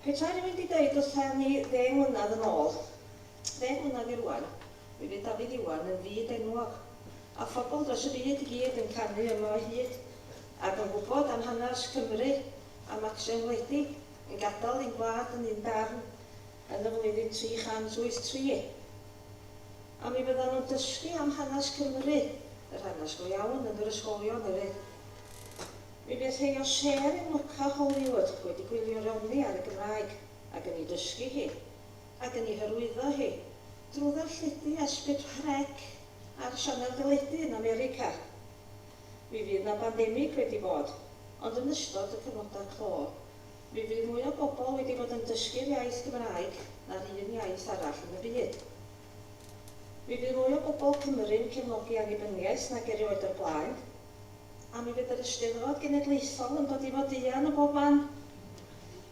Petai rywun 'di deud wrtha ni ddeng mlynadd yn ôl, ddeng mlynadd i rŵan, mi fydd Dafydd Iwan yn fyd enwog, a phobl dros y byd i gyd yn canu yma o hyd, ac yn gwybod am hanas Cymru a Maxen wledig yn gadal ein gwlad yn un darn yn y flwyddyn 383. A mi fyddan nhw'n dysgu am hanes Cymru, yr hanes go iawn, yn yr ysgolion hefyd. Mi fydd rhei o Sêr yn lwco Hollywood wedi gwylio Ronnie ar y Gymraeg, ac yn ei dysgu hi, ac yn ei hyrwyddo hi, drwy ddarlledu a sgript rheg ar sianel deledu yn America. Mi fydd 'na bandemig wedi bod, ond yn ystod y cyfnodau clo, Mi fydd mwy o bobl wedi bod yn dysgu'r iaith Gymraeg na'r un iaith arall yn y byd. Mi fydd mwy o bobl Cymru'n cefnogi annibyniaeth nag erioed o'r blaen. A mi fydd yr Eisteddfod Genedlaethol yn dod i fod eang o bob man.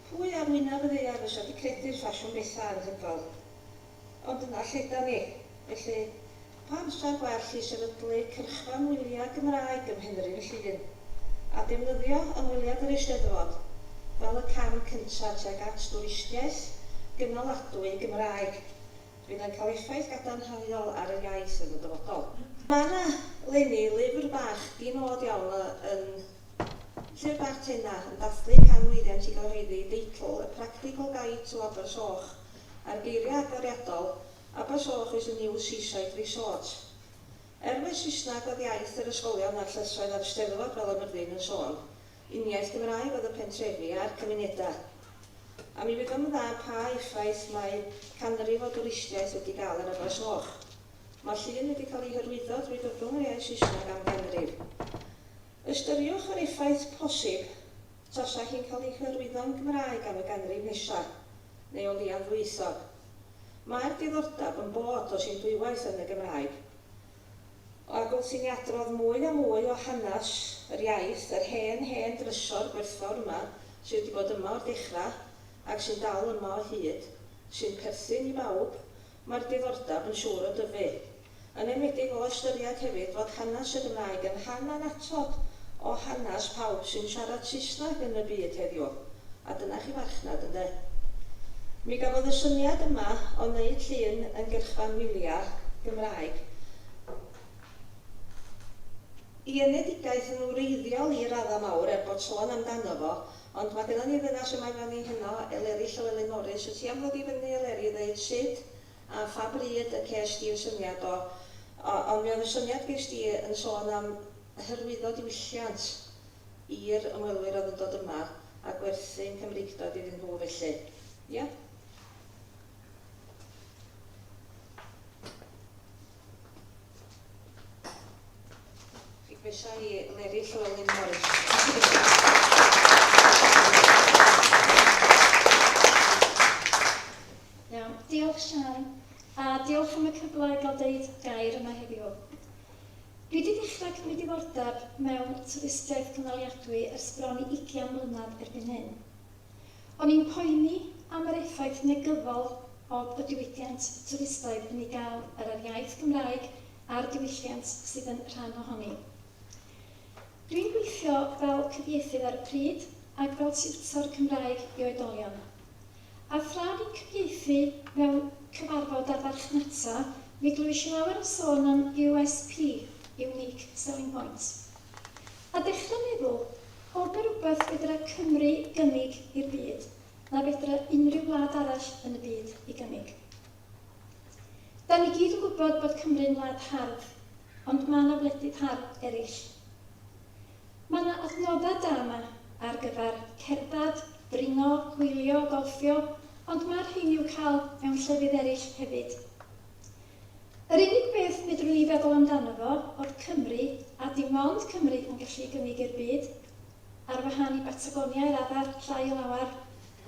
Pwy ar wyneb y ddaear fysa 'di credu'r ffasiwn betha' anhygoel Ond dyna lle 'dan ni. Felly, pa amser gwell i sefydlu cyrchfan wyliau Gymraeg ym Mhenrhyn Llŷn, a defnyddio ymweliad yr Eisteddfod fel y cam cyntaf tuag at dwristiaeth gynaladwy Gymraeg, fydd yn cael effaith gadarnhaol ar yr iaith yn y dyfodol. Mae 'na, 'leni, lyfr bach di-nod iawn yn Llyfr Bach Tena yn dathlu can mlwyddiant i gyhoeddi, deitl, A Practical Guide to Abersoch, Ar geiriau agoriadol, Abersoch is a new seaside resort. Er mai Saesneg oedd iaith yr ysgolion a'r llysoedd ar y Steddfod fel y Myrddin yn sôn, uniaith Gymraeg oedd y pentrefi a'r cymunedau. A mi wyddom yn dda pa effaith mae canrif o dwristiaeth wedi gael ar Abersoch. Mae llun wedi cael ei hyrwyddo drwy gyfrwng yr iaith Saesneg am ganrif. Ystyriwch yr effaith posib. trosiau cyn cael eu hyrwyddo'n Gymraeg am y ganrif nesaf, neu o leiaf ddwyieithog. Mae'r diddordeb yn bod os un dwywaith yn y Gymraeg. Ac wrth i ni adrodd mwy a mwy o hanes yr iaith, yr hen, hen drysor gwerthfawr yma, sydd wedi bod yma o'r dechrau, ac sy'n dal yma o hyd, sy'n perthyn i bawb, Mae'r diddordeb yn siŵr o dyfu, yn enwedig o ystyried hefyd fod hanes y Gymraeg yn rhan annatod o hanes pawb sy'n siarad Saesneg yn y byd heddiw, a dyna chi farchnad, ynde? Mi gafodd y syniad yma o wneud llun yn gyrchfan wyliau Gymraeg, i enedigaeth yn wreiddiol i raddau mawr, er bod sôn amdano fo, Ond mae gynnon ni ddynas yma efo ni heno, Eleri Llywelyn Morris, wyt ti am ddod i fyny Eleri i ddeud sud a pha bryd y ces di'r syniad o, o, ond mi oedd y syniad ges di yn sôn am hyrwyddo diwylliant i'r ymwelwyr oedd yn dod yma a gwerthu'n Cymreictod iddyn nhw felly, ia? Diolch Siân, a diolch am y cyfle i gael deud gair yma heddiw. Dwi 'di dechrau cymryd diddordeb mewn twristiaeth cynaliadwy ers bron i ugian mlynedd erbyn hyn. O'n i'n poeni am yr effaith negyddol oedd y diwydiant twristaidd yn ei gael ar yr iaith Gymraeg a'r diwylliant sydd yn rhan ohoni. Dwi'n gweithio fel cyfieithydd ar y pryd ac fel tiwtor Cymraeg i oedolion. A thra fi'n cyfieithu mewn cyfarfod ar farchnata, mi glwysh i lawer o sôn am USP, Unique Selling Point. A dechra meddwl, Pob yn rhywbeth fedra Cymru gynnig i'r byd, na fedra unrhyw wlad arall yn y byd ei gynnig. Da ni gyd yn gwybod bod Cymru'n wlad hardd, ond ma' 'na wledydd hardd eraill. Ma' 'na adnoddau da 'ma ar gyfer cerdded, dringo, gwylio, golffio, ond ma' rhein i'w cael mewn llefydd eraill hefyd. Yr unig beth fedrwn ni feddwl amdano fo oedd Cymru, a dim ond Cymru yn gallu gynnig i'r byd, ar wahân i Batagonia i raddau llai o lawer,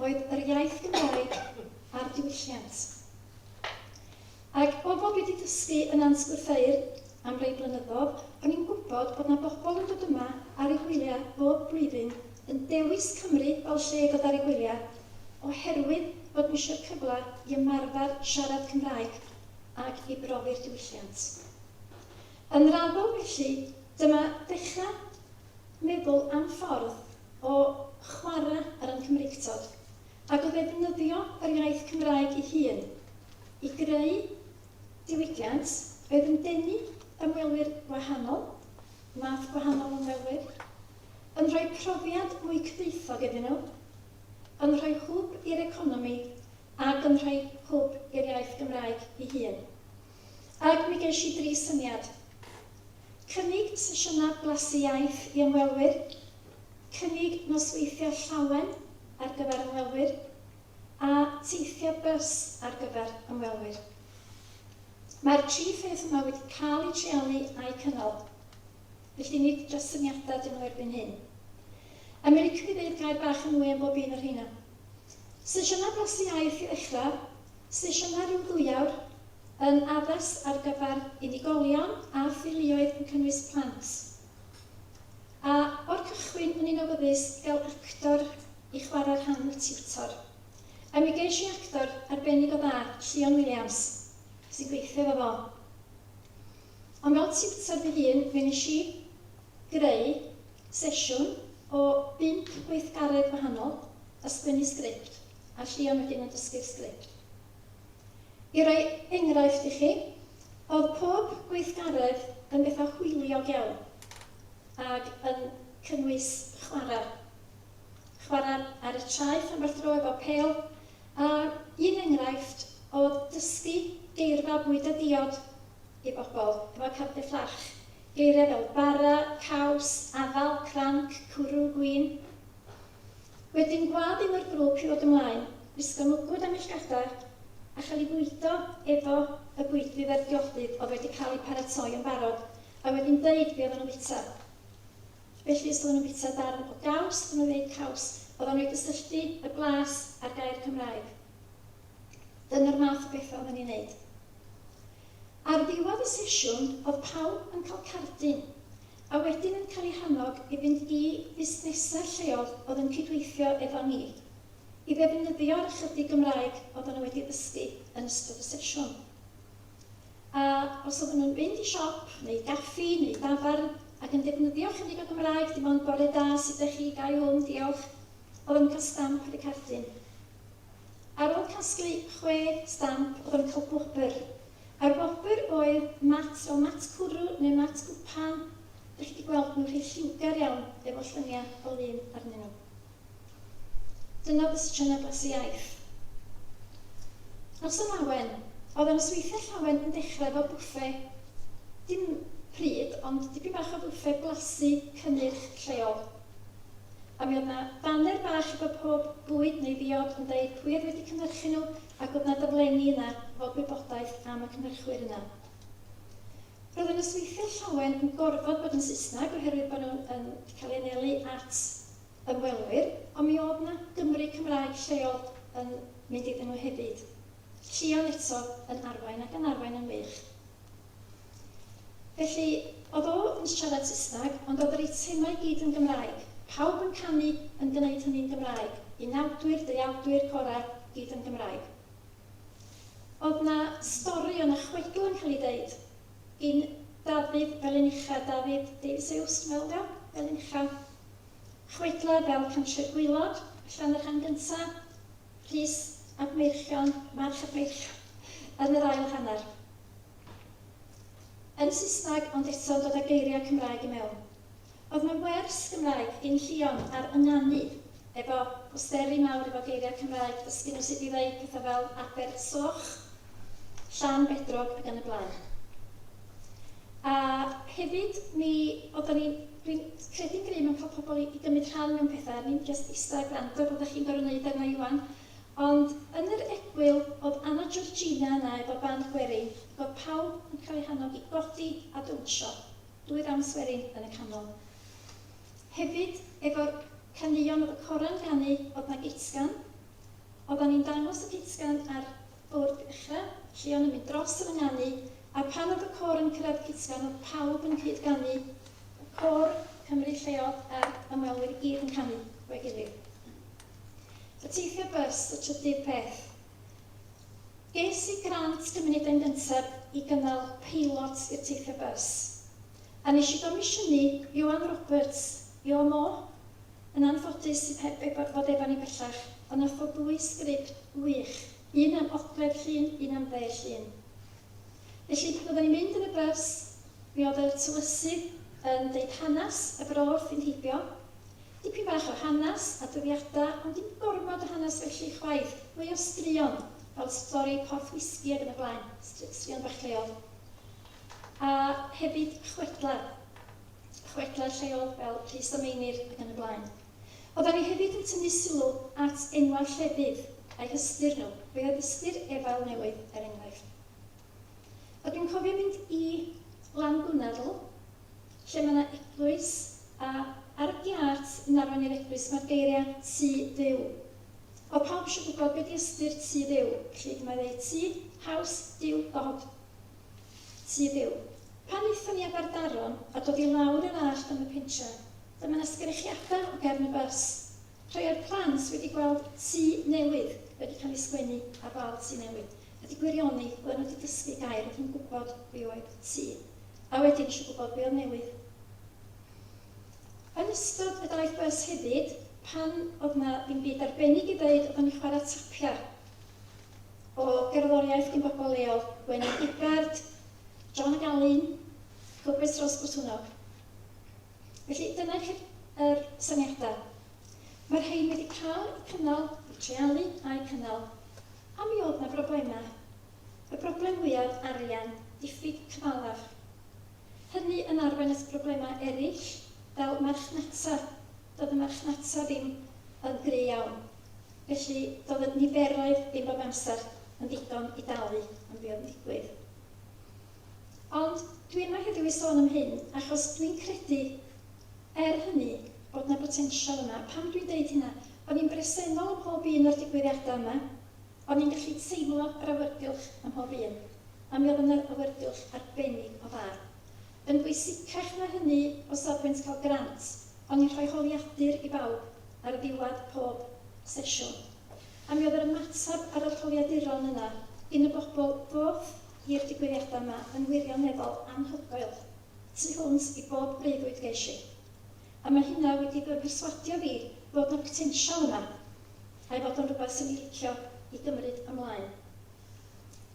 oedd yr iaith Gymraeg a'r diwylliant. Ac o bo fi 'di dysgu yn Nant Gwrtheyrn am rei blynyddodd, o'n i'n gwybod bod 'na bobl yn dod yma ar eu hwyliau bob blwyddyn yn dewis Cymru fel lle i godaru gwyliau oherwydd bod nhw eisiau cyfle i ymarfer siarad Cymraeg ac i brofi'r diwylliant. Yn raddol felly, dyma ddechrau meddwl am ffordd o chwarae ar ein Cymreictod ac o ddefnyddio yr iaith Cymraeg ei hun i greu diwydiant oedd yn denu ymwelwyr gwahanol, math gwahanol o ymwelwyr, yn rhoi profiad mwy cyfoethog iddyn nhw, yn rhoi hwb i'r economi ac yn rhoi hwb i'r iaith Gymraeg ei hun. Ac mi gesh i dri syniad. Cynnig sesiynau blasu iaith i ymwelwyr, cynnig nosweithiau llawen ar gyfer ymwelwyr, a teithio bys ar gyfer ymwelwyr. Mae'r tri pheth yma wedi cael eu treialu a'u cynnal. Felly nid dros syniadau ydyn nhw erbyn hyn. A mi liciwn i ddeud gair bach yn mwy am bob un o'r rheina. Sesiynau blasu aer chi ddechrau, sesiynau ryw ddwy awr, yn addas ar gyfer unigolion a theuluoedd yn cynnwys plant. A o'r cychwyn o'n i'n awyddus i gael actor i chwarae rhan y tiwtor. A mi gesh i actor arbennig o dda, Llion Williams, sy'n gweithio efo fo. Ond mewn tiwtor fy hun, fe wnes i greu sesiwn o bump gweithgaredd gwahanol, a sgwennu sgript, a Llion wedyn yn dysgu'r sgript. I roi enghraifft i chi, oedd pob gweithgaredd yn bethau hwyliog iawn, ac yn cynnwys chwarae. Chwarae ar y traeth ambell dro efo pêl, a un enghraifft oedd dysgu geirfa bwyd a diod. i bobl efo cardiau fflach, geiriau fel bara, caws, afal, cranc, cwrw, gwin. Wedyn gwlad un o'r grŵp i ddod ymlaen, gwisgo mwgwd a millgada, a chael ei fwydo efo y bwydydd a'r diodydd oedd wedi cael eu paratoi yn barod, a wedyn deud be oedden nhw'n bita. Felly os oedden nhw'n bita darn o gaws, oedden nhw'n ddeud caws, oedden nhw i gysylltu y blas a'r gair Cymraeg. Dyna'r math o bethau oedden ni'n neud. Ar ddiwedd y sesiwn oedd pawb yn cael cardyn a wedyn yn cael eu hannog i fynd i fusnesau lleol oedd yn cydweithio efo ni i ddefnyddio'r ychydig Gymraeg oedden nhw wedi ddysgu yn ystod y sesiwn. A os oedden nhw'n mynd i siop neu gaffi neu dafarn ac yn defnyddio ychydig o Gymraeg, dim ond bore da, sut 'dach chi, ga i wmn, diolch, oedden nhw'n cael stamp ar y cardyn. Ar ôl casglu chwe stamp oedd yn cael gwobr. A'r gwobr oedd mat fel mat cwrw neu mat gwpan. Dych chi 'di gweld nhw rhy lliwgar iawn efo llyniau o lun arnyn nhw. Dyna oedd y sesiynau blasu iaith. Noson lawen. Oedd y nosweithiau llawen yn dechrau efo bwffe, dim pryd, ond dipyn bach o fwffe blasu cynnyrch lleol. A mi oedd 'na faner bach efo pob bwyd neu ddiod yn deud pwy oedd wedi cynhyrchu nhw ac oedd 'na daflenni yna efo gwybodaeth am y cynhyrchwyr yna. Roedd y nosweithiau llawen yn gorfod bod yn Saesneg oherwydd bod nhw yn cael eu anelu at ymwelwyr, ond mi oedd 'na Gymry Cymraeg lleol yn mynd iddyn nhw hefyd. Llion eto yn arwain ac yn arwain yn wych. Felly, oedd o yn siarad Saesneg, ond oedd yr eitemau i gyd yn Gymraeg. Pawb yn canu, yn gwneud hynny'n Gymraeg. Unawdwyr, deuawdwyr, corau, i gyd yn Gymraeg. Oedd 'na stori, oedd 'na chwedl yn cael ei ddeud gin Dafydd Felin-ucha, David Davies Hughes, dwi'n meddwl ydy o, Felin-ucha. Chwedlau fel Cantref Gwaelod, ella yn y rhan gynta', Rhys ab Meirchion, March ab Meirchion, yn yr ail hanner. yn Saesneg ond eto'n dod â geiriau Cymraeg i mewn. Oedd 'na wers Gymraeg gin Llion ar ynganu efo posteri mawr efo geiriau Cymraeg dysgu nhw sut i ddeud pethau fel Abersoch, Llanbedrog ac yn y blaen. A hefyd mi oeddan ni, dwi'n credu'n gry' mewn cael pobl i gymryd rhan mewn pethau, ni'm jyst ista a gwrando fel dach chi'n gorfod neud arna i ŵan, Ond yn yr egwyl o'dd Anna Georgina yna efo band gwerin ac o'dd pawb yn cael eu hannog i godi a downsio, dwy ddawns werin yn y canol. Hefyd efo'r caneuon o'dd y cora'n ganu o'dd 'na gitsgan, oddan ni'n dangos y gitsgan ar bwrdd ucha, Llion yn mynd dros yn y nganu, a pan o'dd y côr yn cyrradd y gitsgan o'dd pawb yn cyd ganu, y côr Cymru lleol a'r ymwelwyr i gyd yn canu 'fo'i gilydd. Y teithio bys y trydydd peth. Ges i grant gymuned yn gyntaf i gynnal peilot i'r teithio bys. A nes i gomisiynu Ioan Roberts, Io Mo? Yn anffodus, sydd heb ei fod efo ni bellach, ond nath fo ddwy sgript wych, un am Ogledd Llŷn, un am Dde Llŷn. Felly pan oddan ni'n mynd yn y bys, mi odd y tywysydd yn deud hanas y bro wrthi'n heibio, Dipyn bach o hanes, adroddiada, ond dim gormod o hanes felly chwaith, mwy o straeon, fel stori Porth Whisky ag yn y blaen, straeon bach lleol. A hefyd chwedlau, chwedlau lleol fel Rhys a Meinir ag yn y blaen. Oeddan ni hefyd yn tynnu sylw at enwau llefydd a'u hystyr nhw, fe oedd ystyr Efail Newydd er enghraifft. Ac yn cofio mynd i Llanbwnadl lle mae 'na eglwys a ar y giât yn arwain i'r eglwys mae'r geiriau 'Tŷ Duw'. Wel pawb isio gwybod be 'di ystyr Tŷ Dduw, felly dyma i ddeud Tŷ, House, Duw, God. Tŷ Dduw. Pan aethon ni â bardaron a dod i lawr yr allt am y pentre, dyma 'na sgrechiadau o gefn y bys. Rhai o'r plant wedi gweld tŷ newydd wedi cael ei sgwennu ar wal Tŷ Newydd, a di gwirioni, oedden nhw 'di dysgu gair, oedden nhw'n gwybod be oedd tŷ. a wedyn eisiau gwybod be oedd newydd. Yn ystod y daith bys hefyd, pan oedd na ddim byd arbennig i ddeud, oedden ni'n chwarae tapiau o gerddoriaeth gin bobl leol, Gwenyn Gibbard, John y Galyn, Cwpwys Rhos Botwnog. Felly dyna chi yr syniadau. Mae'r rhain wedi cael eu cynnal, eu treialu a'u cynnal, a mi oedd na broblemau. Y broblem fwyaf, arian, diffyg cyfalaf. Hynny yn arwain at broblemau eraill fel marchnata, doedd y marchnata ddim yn gry iawn, felly doedd y niferoedd ddim bob amser yn ddigon i dalu am be oedd yn digwydd. Ond dwi yma heddiw i sôn am hyn achos dwi'n credu, er hynny, bod 'na botensial yma. Pam dwi'n deud hynna? O'n i'n bresennol ym mhob un o'r digwyddiadau yma. O'n i'n gallu teimlo yr awyrgylch ym mhob un, a mi oedd yn yr awyrgylch arbennig o dda. Yn bwysicach na hynny o safbwynt cael grant, o'n i'n rhoi holiadur i bawb ar ddiwedd pob sesiwn. A mi oedd yr ymateb ar yr holiaduron yna gin y bobl ddoth i'r digwyddiadau yma yn wirioneddol anhygoel. Tu hwnt i bob breuddwyd ges i. A mae hynna wedi fy mherswadio fi fod 'na botensial yma. a'i fod o'n rhywbeth sy'n ei licio i gymryd ymlaen.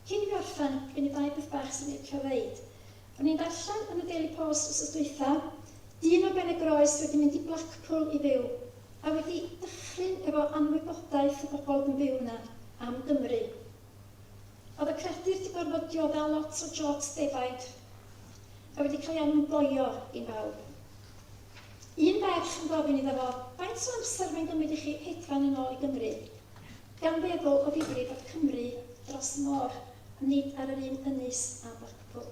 Cyn i fi orffen, gen i ddau beth bach sy'n licio ddeud. O'n i'n darllen yn y Daily Post wsos dwytha, dyn o Benygroes wedi mynd i Blackpool i fyw, a wedi dychryn efo anwybodaeth y bobl yn byw yna am Gymru. Oedd y credir di gorfod diodda lot o jobs defaid. Mae wedi cael ei alw'n boio i bawb. Un merch yn gofyn iddo fo faint o amser mae'n gymryd i chi hedfan yn ôl i Gymru. Gan feddwl o ddifri fod Cymru dros y môr, ond nid ar yr un ynys a Blackpool.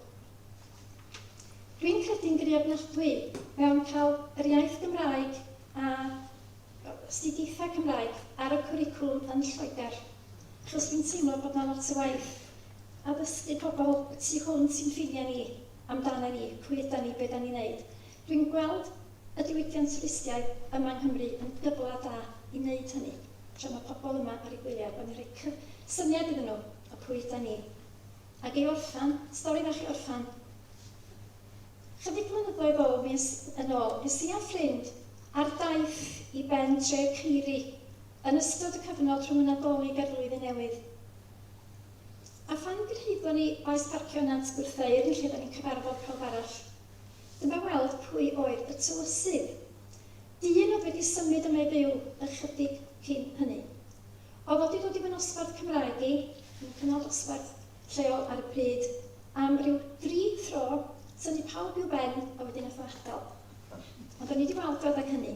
Dwi'n credu'n gry ofnadwy mewn cael yr iaith Gymraeg a astudiaethau Cymraeg ar y cwricwlwm yn Lloegr, achos dwi'n teimlo bod 'na lot o waith addysgu pobl y tu hwnt i'n ffiniau ni, amdana ni, pwy ydan ni, be 'dan ni'n neud. Dwi'n gweld y diwydiant twristiaeth yma yng Nghymru yn gyfle da i neud hynny, tra ma' pobl yma ar eu gwyliau, bod ni'n rhoi cyf- syniad iddyn nhw o pwy ydan ni. Ac i orffen, stori fach i orffen, Chydig blynyddoedd ôl, fues yn ôl, es i a ffrind ar daith i ben tref Caeri yn ystod y cyfnod rhwng y Nadolig a'r Flwyddyn Newydd. A phan gyrhaeddon ni Faes Parcio Nant Gwrtheyrn lle da ni'n cyfarfod pawb arall, dyma weld pwy oedd y tywysydd. Dyn oedd wedi symud yma i fyw ychydig cyn hynny. Oedd o 'di dod i fy nosbarth Cymraeg i, yn cynnal dosbarth, lleol ar y pryd am ryw dri thro, tynnu pawb i'w ben a wedyn nath o adael. Ond o'n i 'di weld o adeg hynny.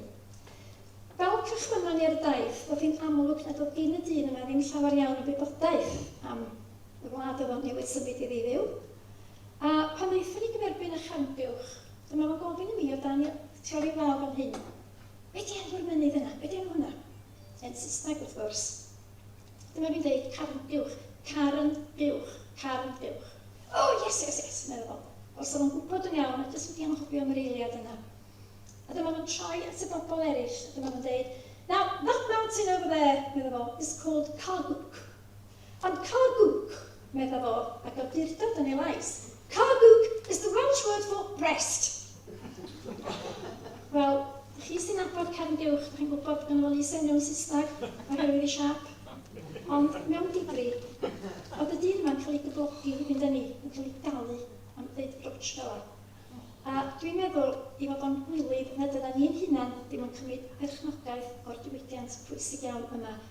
Fel cychwynnon ni ar y daith, o'dd hi'n amlwg nad o'dd gin y dyn yma ddim llawer iawn o wybodaeth am y wlad o'dd o'n newydd symud iddi fyw. A pan naethon ni gyferbyn â Charnbuwch, dyma fo'n gofyn i mi o dan y tori wal fan hyn, 'Be' 'di enw'r mynydd yna? Be' 'di enw hwnna?' Yn Saesneg wrth gwrs. Dyma fi'n deud carn buwch, carn buwch, carn buwch. O, yes, yes, yes, meddai Bob. Os oedd o'n gwybod yn iawn, a does wedi anghofio am yr eiliad yna. A dyma fo'n troi at y bobl eraill, a dyma fo'n deud, Now, that mountain over there, meddai fo, is called Cargwc. Ond Cargwc, meddai fo, ag awdurdod yn ei lais, Cargwc is the Welsh word for breast. Wel, chi sy'n nabod Cefn Buwch, dych chi'n gwybod bod ganddo fo lys enw yn Saesneg oherwydd ei siâp. Ond mewn digri, oedd y dyn yma'n cael ei gyflogi i fynd â ni, yn cael ei dalu am ddeud rwtsh fel yna. A dwi'n meddwl ei fod o'n gwilydd nad ydan ni'n hunan ddim yn cymryd perchnogaeth o'r diwydiant pwysig iawn yma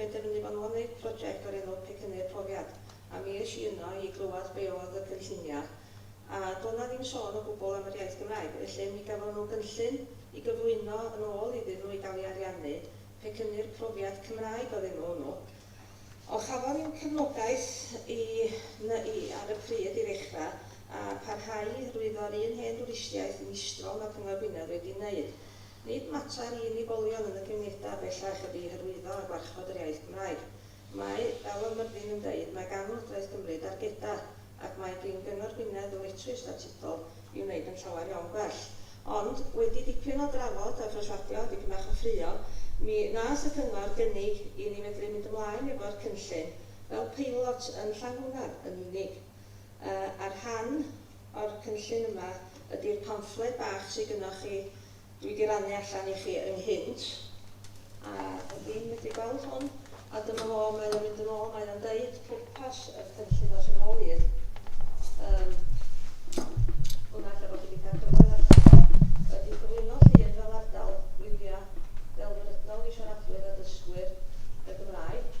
Penderfynu fo nhw yn wneud project o'r enw Pecynnu'r Profiad a mi es i yno i glywed be oedd y cynllunia a doedd na ddim sôn o gwbl am yr iaith Gymraeg felly mi gafon nhw gynllun i gyflwyno yn ôl iddyn nhw i gael ei ariannu, Pecynnu'r Profiad Cymraeg oedd enw hwnnw. O chafon i'm cefnogaeth i NYU ar y pryd i ddechra a pharhau i hyrwyddo'r un hen dwristiaeth meistrol ma Cyngor Gwynedd wedi neud. Nid mater i unigolion yn y cymunedau bellach ydy hyrwyddo a gwarchod yr iaith Gymraeg. Mae, fel oedd Myrddin yn deud, mae gan Lywodraeth Cymru dargedau ac mae gin Gyngor Gwynedd ddyletswydd statudol i wneud yn llawer iawn gwell. Ond, wedi dipyn o drafod a phreswadio a dipyn bach o ffraeo, mi wnaeth y Cyngor gynnig i ni fedru mynd ymlaen efo'r cynllun fel peilot yn Llangwynedd yn unig. Yy, a'r rhan o'r cynllun yma ydi'r pamffled bach sy gynnoch chi, dwi wedi rannu allan i chi ynghynt, a ydw i'n medru gweld hwn? A dyma fo, mae o'n mynd yn ôl, mae o'n deud pwrpas y cynllun os yn ôl i'r um, hwnna lle bod chi wedi cael cyfle ddarllen, ydy cyflwyno llun fel ardal wyliau delfrydol i siaradwyr a dysgwyr y Gymraeg,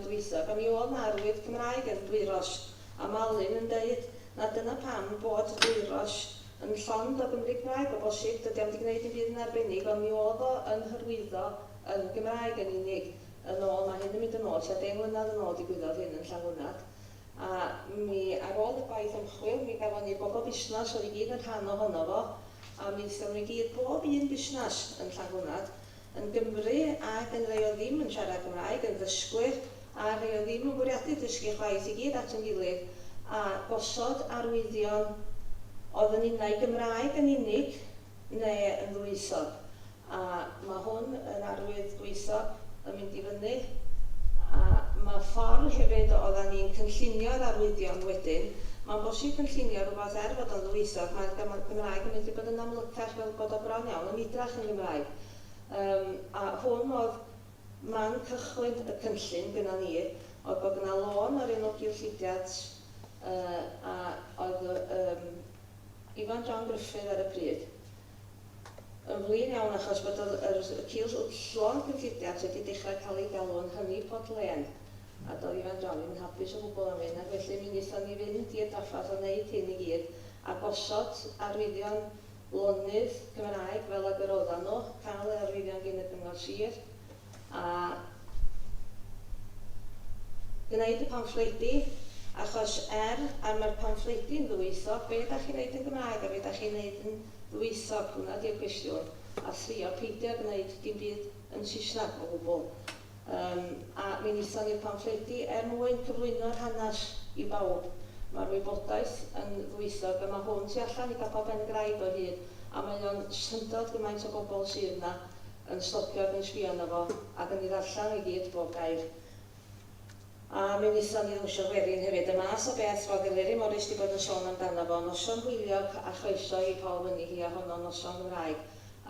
dwytha pan i ôl na'r wyf Cymraeg yn Dwyrosh a Malin yn deud na dyna pam bod Dwyrosh yn llond o Gymry Cymraeg o bosib dydi o'm di gneud dim byd yn arbennig ond mi oedd o yn hyrwyddo yn Gymraeg yn unig yn ôl ma hyn yn mynd yn ôl tua deng mlynadd yn ôl digwyddodd hyn yn Llangwnad a mi ar ôl y gwaith ymchwil mi gafon ni bobol busnas oedd i gyd yn rhan o hono fo a mi ddysgon nhw i gyd bob un busnas yn Llangwnad yn Gymru ac yn rhai oedd ddim yn siarad Cymraeg, yn ddysgwyr a rhai oedd ddim yn bwriadu dysgu chwaith i gyd at yn gilydd a gosod arwyddion oedd yn unai Gymraeg yn unig ne yn ddwyieithog a ma hwn yn arwydd gwaethog yn mynd i fyny a ma ffordd hefyd odda ni'n cynllunio'r arwyddion wedyn ma'n bosib cynllunio rhywbeth er fod o'n ddwyieithog ma'r Gymraeg yn mynd i fod yn amlycach fel bod o bron iawn yn idrach yn Gymraeg. Yym a hwn oedd man cychwyn y cynllun gynna ni, oedd bod yna lôn ar un o gyllidiant yy a oedd y yym Ifan John Gruffydd ar y pryd yn flin iawn achos bod yr yr y cyll- llon cyllidiant wedi dechrau cael ei galw'n Hynny Pot Lên a doedd Ifan John ddim yn hapus o gwbl am hyn ac felly mi nithon ni fynd i'r daffath a neud hyn i gyd a gosod arwyddion lonydd Cymraeg fel ag yr oeddan nhw, cael ei arwyddion gin y Cyngor Sir, a gwneud y pamffledi, achos er ar mae'r pamffledi yn ddwyieithog, be da chi'n wneud yn Gymraeg a be da chi'n wneud yn ddwyieithog, hwnna di'r cwestiwn, a thrio peidio gwneud dim byd yn Saesneg o gwbl. Yym, a mi wnaethon ni'r pamffledi er mwyn cyflwyno'r hanes i bawb. Mae'r wybodaeth yn ddwyieithog a mae hwn tu allan i Capel Pen-y-graig o hyd a mae o'n syndod gymaint o bobl sydd yna yn stopio ac yn sbio arno fo ac yn ei ddarllen o i gyd, bob gair. A mi wnaethon ni ddawnsio gwerin hefyd. Y math o beth roedd Eleri Morris 'di bod yn sôn amdano fo. Noson hwyliog a chroeso i pawb yni hi a honno'n noson Gymraeg.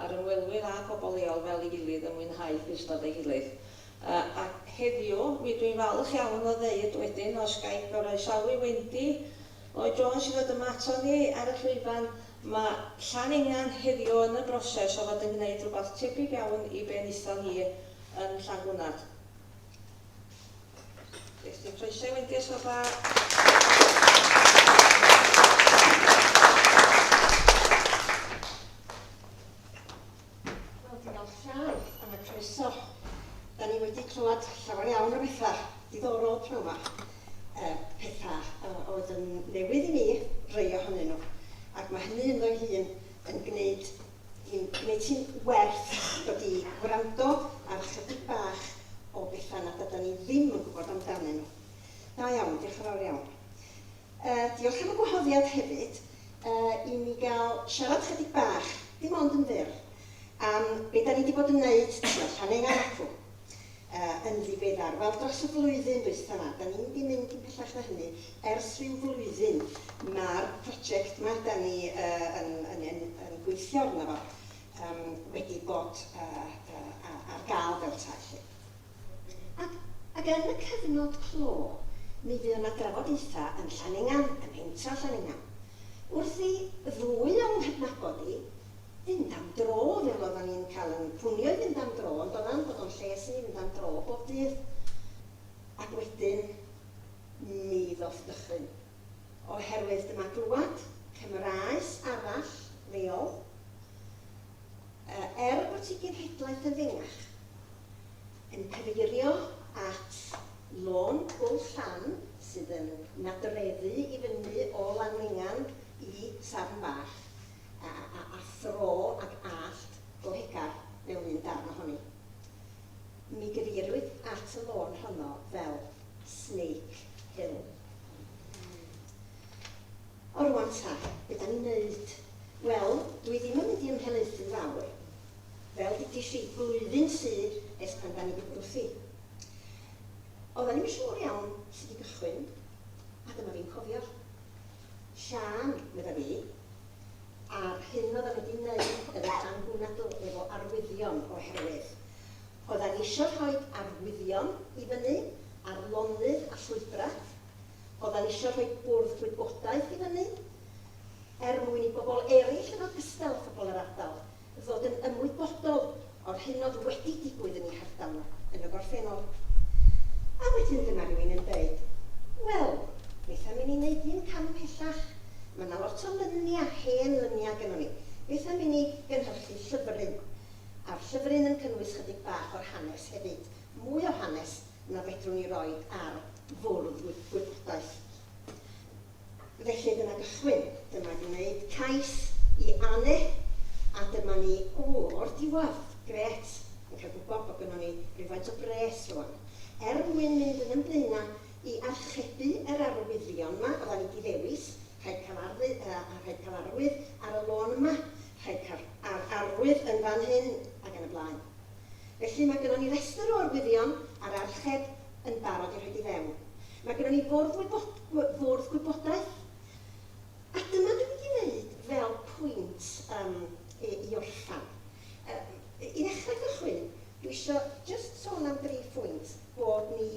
a'r ymwelwyr a phobl leol fel ei gilydd yn mwynhau clustod ei gilydd. A heddiw, mi ydw i'n falch iawn o ddeud wedyn, os ga i groesawu Wendy Lloyd Jones i ddod yma aton ni ar y llwyfan, ma' Llan Engan heddiw yn y broses o fod yn gwneud rhywbeth tebyg iawn i be wnaethon ni yn Llangwnad. Christy Croeso wedi a Soba. Wel, diolch llawn am y croeso. Da ni wedi clywed llawer iawn o bethau diddorol pnawn yma. E, pethau e, oedd yn newydd i mi, rei ohonyn nhw. Ac mae hynny ynddo'i hun yn gwneud Ti'n... neu ti'n werth dod i wrando ar ychydig bach o bethau nad ydan ni ddim yn gwybod amdanyn nhw. Da iawn, diolch yn fawr iawn. Yy, diolch am y gwahoddiad hefyd yy i mi gael siarad ychydig bach, dim ond yn fyr, am be dan ni 'di bod yn wneud, tibod, Fframennga ac acw. yn ddiweddar. Wel, dros y flwyddyn ddwytha 'ma, 'da ni wedi mynd yn pellach na hynny. Ers rhyw flwyddyn, ma'r prosiect 'ma 'da ni yn gweithio arno fo wedi bod ar gael fel petai 'lly. Ac yn y cyfnod clo, mi fuodd 'na drafodaethau yn Llanyngan, ym mhentre Llanyngan, wrth i ddwy o'm nghydnabod i Fynd am dro, fel oeddan ni'n cael yn Cwnioedd fynd am dro, yn doeddan, bod o'n lles i ni fynd am dro bob dydd. Ac wedyn, mi ddoth dychryn. Oherwydd dyma glwad Cymraes arall, leol. Yy, er bod hi genhedlaeth yn fengach, yn cyfeirio at Lôn Pwll Llan, sydd yn nadreddu i fyny o Lanfengan i Sarn Bach. a a a thro ag allt gohegar mewn un darn ohoni. Mi gyfeirwyd at y lôn honno fel Snake Hill. O rwan ta, be da ni'n neud? Wel, dwi ddim yn mynd i ymhelaethu fawr. Fel dudis i, blwyddyn sydd ers pan da ni wedi bod wrthi. Oedda ni'm yn siŵr iawn sut i gychwyn, a dyma fi'n cofio. Siân, medda fi, a'r hyn odda fi 'di neud yn y fan hwnna do, efo arwyddion, oherwydd odda ni isio rhoi arwyddion i fyny ar lonydd a llwybrau, odda ni isio rhoi bwrdd gwybodaeth i fyny, er mwyn i bobl eraill yn ogystal â phobl yr ardal fod yn ymwybodol o'r hyn oedd wedi digwydd yn ei hardal nhw yn y gorffennol. A wedyn dyma rywun yn dweud, 'Wel, beth am i ni wneud un cam ymhellach? Mae yna lot o luniau, hen luniau gynnon ni. Beth am i ni gynhyrchu llyfryn? A'r llyfryn yn cynnwys chydig bach o'r hanes hefyd, mwy o hanes na fedrwn ni roi ar fwrdd gwybodaeth. Felly dyma gychwyn, dyma gwneud cais i Anne a dyma ni o'r diwedd. Grêt! Yn cael gwybod bod gynnon ni rywfaint o bres rŵan. Er mwyn mynd yn 'yn blaena' i archebu yr arwyddion 'ma odda ni 'di ddewis, rhaid cael arwydd, yy, rhaid cael arwydd ar y lôn yma, rhaid cael arwydd yn fan hyn, ac yn y blaen. Felly, mae gynnon ni restr o arwyddion a'r archeb yn barod i rhoid i fewn. Mae gynnon ni fwrdd wybod- w- fwrdd gwybodaeth, a dyma dwi'n mynd i wneud fel pwynt yym i i orffen. Yy, i ddechrau cychwyn, dwi isio jyst sôn am dri phwynt bod ni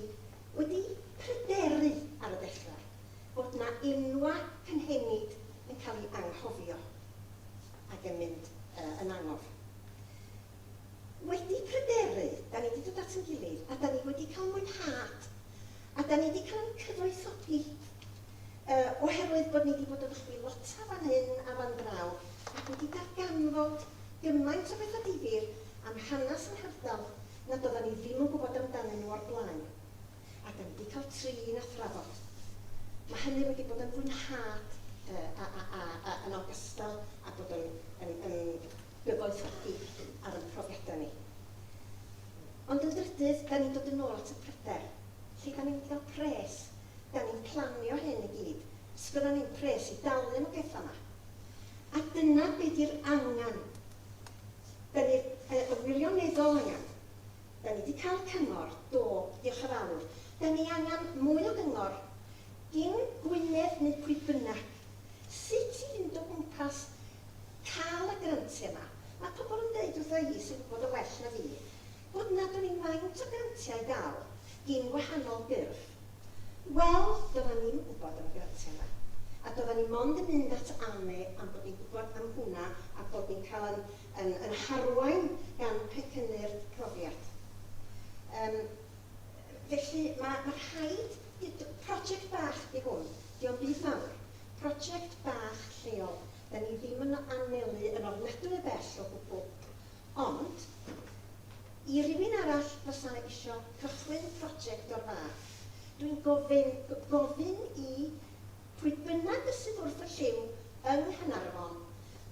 wedi pryderu ar y dechrau, bod 'na enwau cynhenid yn cael eu anghofio ac yn mynd yy yn angof. wedi pryderu, 'da ni 'di dod at ein gilydd a 'da ni wedi cael mwynhad a 'da ni 'di cael ein cyfoethogi yy oherwydd bod ni 'di bod yn chwilota fan hyn a fan draw ac wedi darganfod gymaint o betha difyr am hanes yr hardal nad oddan ni ddim yn gwbod amdanyn nhw o'r blaen. A dan ni di cael trin a thrafod. Mae hynny wedi bod yn fwynhad a yn ogystal a bod yn gyfoethogi ar yn profiadau ni. Ond yn drydydd, dan ni'n dod yn ôl at y pryder. Lle dan ni'n mynd i gael pres? Dan ni'n planio hyn i gyd. Sgynnon ni'm pres i dalu am y pethau yma. A dyna be di'r angen. Dan ni'r wirioneddol angen. Da ni di cael cyngor, do, diolch yn fawr. Da ni angan mwy o gyngor. Gin Gwynedd neu pwy bynnag. Sut i fynd o gwmpas cael y grantiau yma. Mae pobl yn deud wrtha i, sy'n gwybod o well na fi, bod nad oes yn faint o grantiau i gael gin wahanol ffyrdd. Wel, doeddan ni'm yn gwybod am y grantiau yma. A doeddan ni mond yn mynd at AHME am bod ni'n gwybod am hwnna a bod ni'n cael ein yn yn harwain gan pecynnu'r profiad. Yym felly ma' ma' rhaid i d-... Project bach 'di hwn, 'di o'm byd mawr. Project bach lleol. 'Da ni ddim yn anelu yn ofnadwy o bell o gwbwl. Ond, i rywun arall fysa isio cychwyn project o'r fath, dwi'n gofyn, g- gofyn i pwy bynnag y sydd wrth y llyw yng Nghanarfon,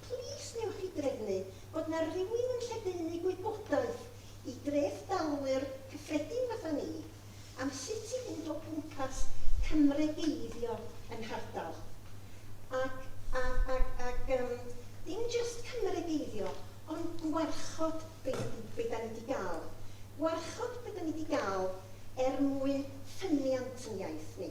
plis newch chi drefnu bod na rywun yn lledaenu gwybodaeth i dreth dalwyr cyffredin fatha ni am sut i fynd o gwmpas cymregeiddio yn nhardal. Ac, ac, ac, ac yym dim jyst cymregeiddio, ond gwarchod be da ni, be da ni di gal. Gwarchod be da ni di gal er mwyn ffyniant yn iaith ni.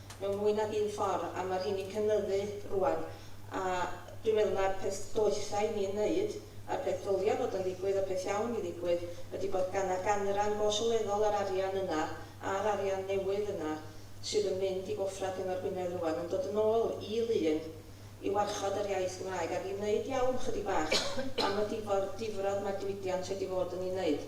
mewn mwy nag un ffor, a ma' rheiny'n cynyddu rŵan, a dwi'n meddwl mai'r peth doetha i ni'n neud, a'r peth ddylia fod yn ddigwydd, y peth iawn i ddigwydd, ydi bod gan na ganran go sylweddol o'r arian yna, a'r arian newydd yna, sydd yn mynd i goffra Cyngor Gwynedd rŵan, yn dod yn ôl i Lŷn i warchod yr iaith Gymraeg, ac i neud iawn chydig bach am y difrod mae'r diwydiant wedi fod yn ei neud.